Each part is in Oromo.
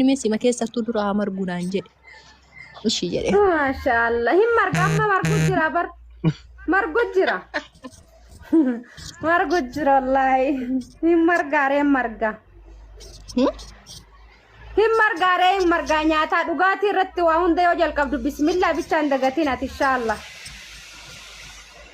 Inni sima keessattuu dura haa margu naan jedhe. Ishii jedhe. Maashaallah hin marga amma margu jira bar margu jira margu jira wallaahi hin margaaree hin marga Hmm? hin margaaree hin margaa nyaataa dhugaatii irratti waa hunda yoo jalqabdu bismillaa bichaan dagatiin ati inshaallah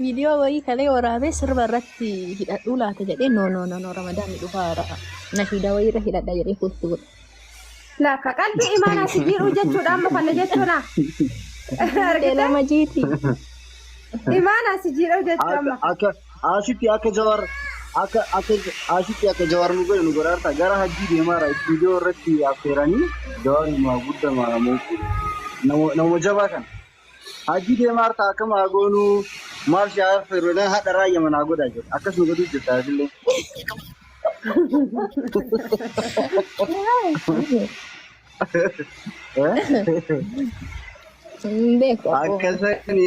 Viidiyoo wayii kalee waraabee sirba irratti hidhadhuu laata jedhee no no no no ramadaanni dhufaa irra nashiidaa wayii irra hidhadha jedhee kuustu godhe. Lakka qalbii imaanaa si jiidhuu jechuudha amma kana jechuudha. Argitee? Lama jiiti. Imaanaa si jiidhuu jechuu Akka amma. akka asitti akka jawar akka akka asitti akka jawar nu godhe nu godhaarta gara hajjii deemaara istuudiyoo irratti affeeranii jawar nu guddamaa nama nama jabaa kana. Hajji deemaa hartaa akkam haa goonuu maal shaa affeeru jedhan hadha raayya manaa godhaa jedhe akkas nu godhuu jirta asillee. Hin beeku abboo. Akkasani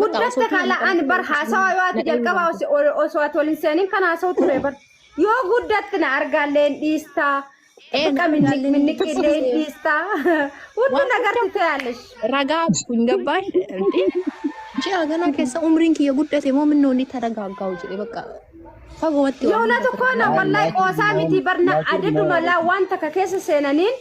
Guddatte kaala ani bar haasawaa yoo ati jalqabaa os- ol- osoo ati ol hin seeniin kan haasa'u ture bar. Yoo guddatte na argaallee hin dhiistaa. Ee, Bakka minni- argaallee hin minniqillee hin dhiistaa. Hundi Waan nagarti hunda- ta'aallesh. ragaa kun gabbaan ji'a ganaa keessa umriin kiyya guddate moo minnoo inni taragaaggaa'u jedhe bakka fagoo watti Yoona tokko na wallahi qoosaa miti barna adaduma laa waan takka keessa seenaniin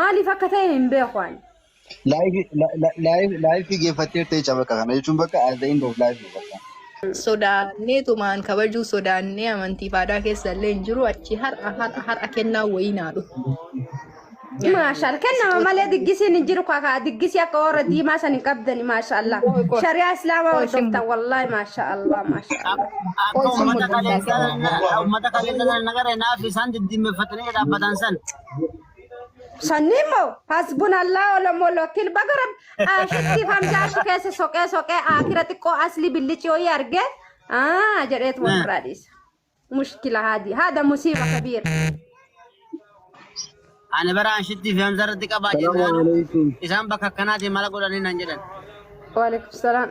Maaliif akka ta'e hin beeku ani. Live li- li- live live geeffattee ta'e cabaqa kana jechuun bakka as the end of live dha bakka. sodaannee tumaan kabajuu sodaannee amantii fi aadaa keessa illee hin jiru achi har'a har'a har'a kennaa wayii naa dhufu. Maashaal kennama malee diggisiin hin jiru kakaa diggisii akka warra diimaa san hin qabdani maashaallah Qoy, qoy. shari'aa islaamaa Qoy, sin hordoftan wallaahi maashaallah maashaallah. Akka Qoy, sin uummata mudhisa kaleessaa sana- uummata kaleessaa sana nagaree naaf isaan diddiimeffatanii dhaabbataan san Sanniin moo hasbun allaa olomoo lokkil baga rabbi aashitti hamzaa achi keessa soqee soqee aakira xiqqoo asli billichi ho'i argee aa jedheetu wal biraa dhiisa. Mushkila haadi haada musiiba kabiira. Ani bara ashitti fi hamza irratti qabaa Salaam jennaan alaikum. isaan bakka akkanaatiin mala godhanii nan jedhan. Waalaikum salaam.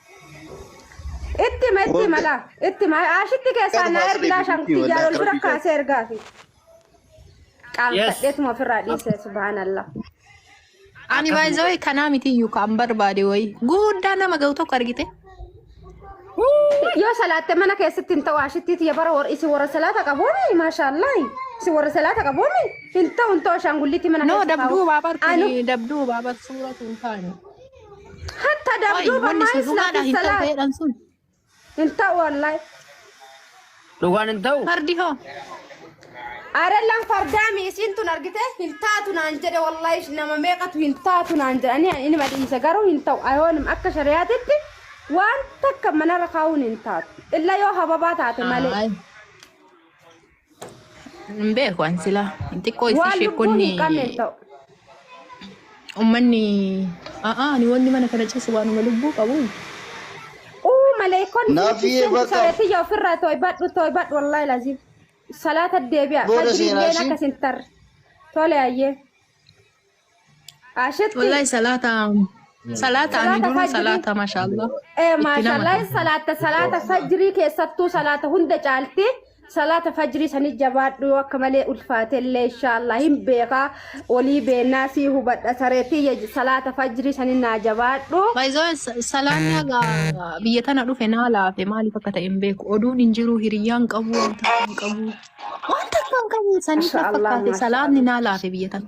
Itti ma itti ma laa itti ma ashitti keessaa naa ergi laa shankii jaalol bira kaasee ergaa fi qaanfadheetuma ofirraa dhiisee subhaanallah. Ani baay'ee kanaa miti iyyuu kan barbaade wayii. Guddaa nama ga'u tokko argite. Yoo salaatte mana keessatti hin ta'u ashittiiti ya bara warri isin warra salaata qabuuni maashaallah isin warra salaata qabuuni hin ta'u hin ta'u ashaangulliitti mana No keessatti dabduu baabatu Anu- dabduu baabatu suuratu hin taane. Hatta Qoy, dabduu wanni bamaa sun dhugaadha islaati hin ta'u salaat. ta'eedhaan sun. Hin ta'u wallahi. Dhugaan hin ta'u. Fardi hoo? Arellaan fardaami isiin tun argite hin taatu naan jedhe wallahi nama meeqatu hin taatu naan jedhe ani inni madhiisa garuu hin ta'u ayoonim akka shari'aatitti waan takka manarra kaa'uun hin taatu illa yoo hababaa taate malee Ayi. Hin beeku an sila xiqqoo isii Waan lubbuu hin sheekonni qabneen ta'u. ummanni a'a ani wanni mana kana ciisu waanuma lubbuu qabu Uu maleekonni Naaf nutti iyyee seentu bakka- sareetiyya ofirraa toybadhu toybadhu wallaahi laziim. Salaata deebi'a. Booda Fajriilleen seenaa ishii. akkas hin tarre. Tole ayyee. Ashatti. Wallahi salaata salaata ani Salaata dura fajrii. salaata mashallah. Eh, Itti maashaallah nama- salaata salaata fajrii keessattuu salaata hunda caalti salaata fajrii sanii jabaadhu yoo akka malee ulfaatellee inshaallah hin beeka olii beennaa sii hubadha sareetii ya- salaata fajrii sanii naa jabaadhu Baay'ee salaanni haga biyya tana dhufe naa laafe maaliif akka ta'e hin beeku. Oduun hin jiru hiriyyaan qabu wanta hin qabu. Wanta kan qabu saniif na Mashallah, fakkaate salaanni naa laafe biyya tana.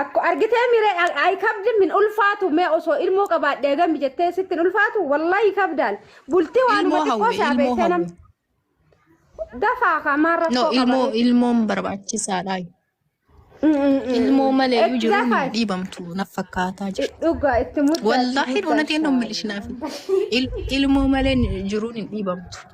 Akko argitee miree ay- ay kabdi min ulfaatu mee osoo ilmoo qabaadhee gami jettee sitti hin ulfaatu wallahi kabdaan bultii waanuma Ilmoo xiqqoo hawwe, isaa ilmoo beektee nam hawwe. dafaa kamaa No, rakkoo ilmoo qaba ilmoon barbaachisaadha. Ilmoo malee iyyuu itti jiruun dafaa dhiibamtu naf fakkaataa jira. dhugaa itti muddaa itti Wallaahi muddaa dhunateen ishaallah. dhummilishinaaf. Ilmoo malee jiruun hin dhiibamtu.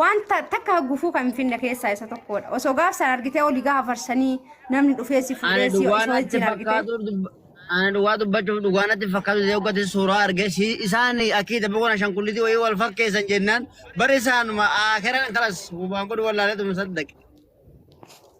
Wanta takka gufuu kan hin finne keessaa isa tokkodha. Osoo gaaf sana argitee olii gaafa farsanii namni dhufee si Ana fuudhee si dhugaa isa natti wajjin argitee. fakkaatu dub- ana dhugaa dubbachuuf dhugaa natti fakkaatu ta'ee hoggatis suuraa argee si isaan akkiita boqona shan kullitii wayii wal fakkeessan jennaan bari isaanuma aakeran kalas waan godhu wallaalee tuma saddaqe.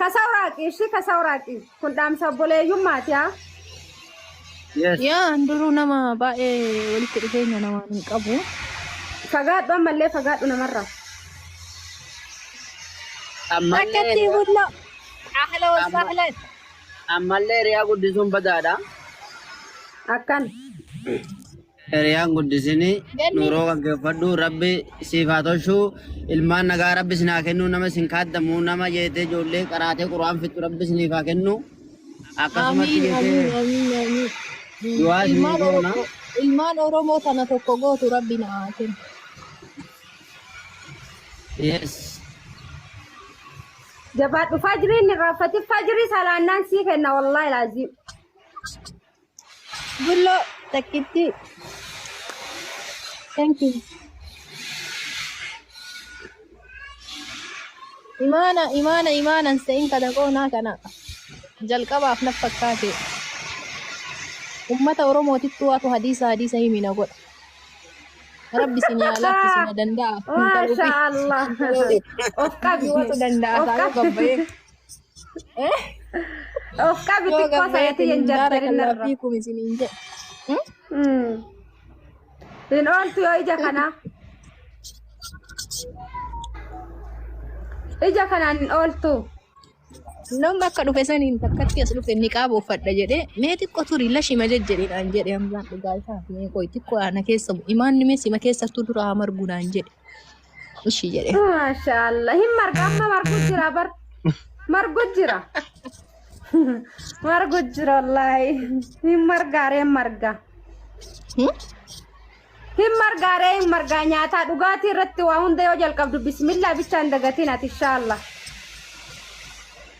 Kasaa waraaqii ishii kasaa waraaqii. Kun dhaamsa obboleeyyummaati haa. Yes. Yaa an duruu nama baay'ee walitti dhufeenya namaan hin qabu. Fagaadhu ammallee fagaadhu namarraa. Ammallee Akkatti riyaa- bullo. Ahla wa Amma- sahlan. ammallee riyaa guddisuun badaadha. Akkan. Hiriyaan guddisini nuuroo gaggeeffadhu rabbi siif haa tolchu ilmaan nagaa rabbi isin haa kennu nama isin kaaddamu nama jeetee ijoollee qaraatee quraan fixxu rabbi isiniif haa kennu akkasumatti Amiin amiin jeetee amiin amiin. Mm, du'aa isinii Ilmaan goona Oromoo ilmaan Oromoo tana tokko gootu rabbi na haa kennu. yes Jabaadhu fajriin irraa fatif fajrii salaannaan sii kenna wallaahi laaziim. Bulloo takkittii. Thank you. Imaana imaana imaanan se'in kana qoonaa kana jalqabaaf naf fakkaate. Ummata Oromootittu waatu hadiisa hadiisa himina godha. Rabbi isin yaa laaffisu na danda'a. Maasha Allah. Of qabdi. Himatu danda'a Of taa'uu qabdi. gabbayee. Of qabi Yoo xiqqoo gabbee sayatii hin jarjarin irra. fi kumisin hin jedhe. Mm. Hin ooltu yoo ija kanaa. Ija kanaan hin ooltu. Namni akka dhufe saniin takkatti as dhufe ni qaaba uffadha jedhee mee xiqqoo turi lashima jejjedheedhaan jedhe hamzaan dhugaa isaa mee qoy xiqqoo ana keessa bu imaanni mee sima keessattuu dura haa margu naan jedhe. ishii jedhe. Maashaallah hin marga amma margu jira bar margu jira margu jira wallaahi hin margaaree hin marga Hmm? hin margaaree hin margaa nyaataa dhugaatii irratti waa hunda yoo jalqabdu bismillaa bichaan dagatiin ati inshaallah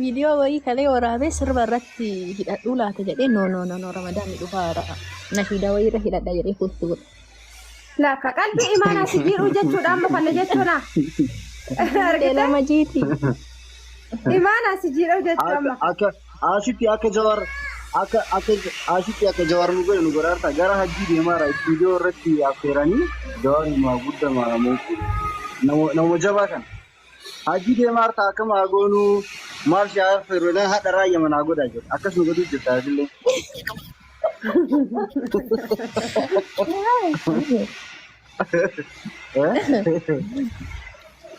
Viidiyoo wayii kalee waraabee sirba irratti hidhadhuu laata jedhee no no no no ramadaanni dhufaa jira. Nashiidaa wayii irra hidhadha jedhee kuustu godhe. Laakka qalbii imaanaa si jiidhuu jechuudha amma kana jechuudha. Argitee? Lama jiiti. Imaanaa si jiidhuu jechuudha amma. Akka asitti akka jawar akka akka asitti akka jawar nu godhe nu godhaarta gara hajjii deemaara viidiyoo irratti affeeranii jawar nu guddamaa nama nama jabaa kana. Hajii deemaa hartaa akkam haa goonuu maal shaa affeerru jedhan hadha raayya manaa godhaa jedhu akkas nu godhuu jirta atillee.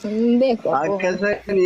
Hin beeku abboo. Akkasani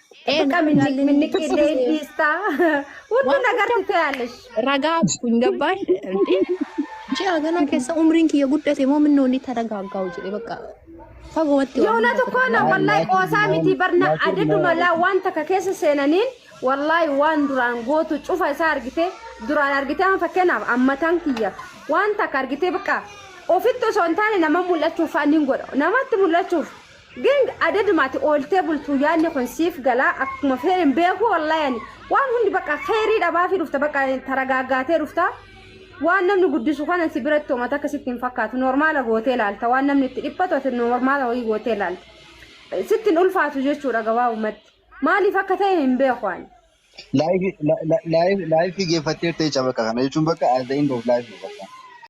Ee Baqqa minni- jaalleen minniqqii illee hin agarsiise. dhiistaa. Hundi Waan hunda nagarti ta'aalesh. ragaa hin gabbaan inti ji'a ganaa keessa umriin kiyya guddate moo minnoo inni taragaaggaa'u jedhe bakka fagoowatti waan Yoona hunda tokko na taragaaggaa'u. wallahi qoosaa miti barna adaduma laa waan takka keessa seenaniin wallahi waan duraan gootu cufa isaa argite duraan argite amma fakkeenyaaf ammataan kiyya waan takka argite bakka ofitti osoo hin taane nama mul'achuuf fa'aa niin godha namatti mul'achuuf Gang adaduma ati ooltee bultu yaadni kun siif gala akkuma feerin beeku wallahi ani waan hundi bakka kheyrii dhabaafi dhufta bakka taragaaggaatee dhufta waan namni guddisu kanan si biratti homa takka sitti hin fakkaatu normaala gootee laalta waan namni itti dhiphatu ati normaala wayii gootee laalta sitti hin ulfaatu jechuudha gabaabumatti maaliif akka ta'e hin beeku ani. Live live live geeffattee ta'e cabaqa kana jechuun bakka as the end of life bakka.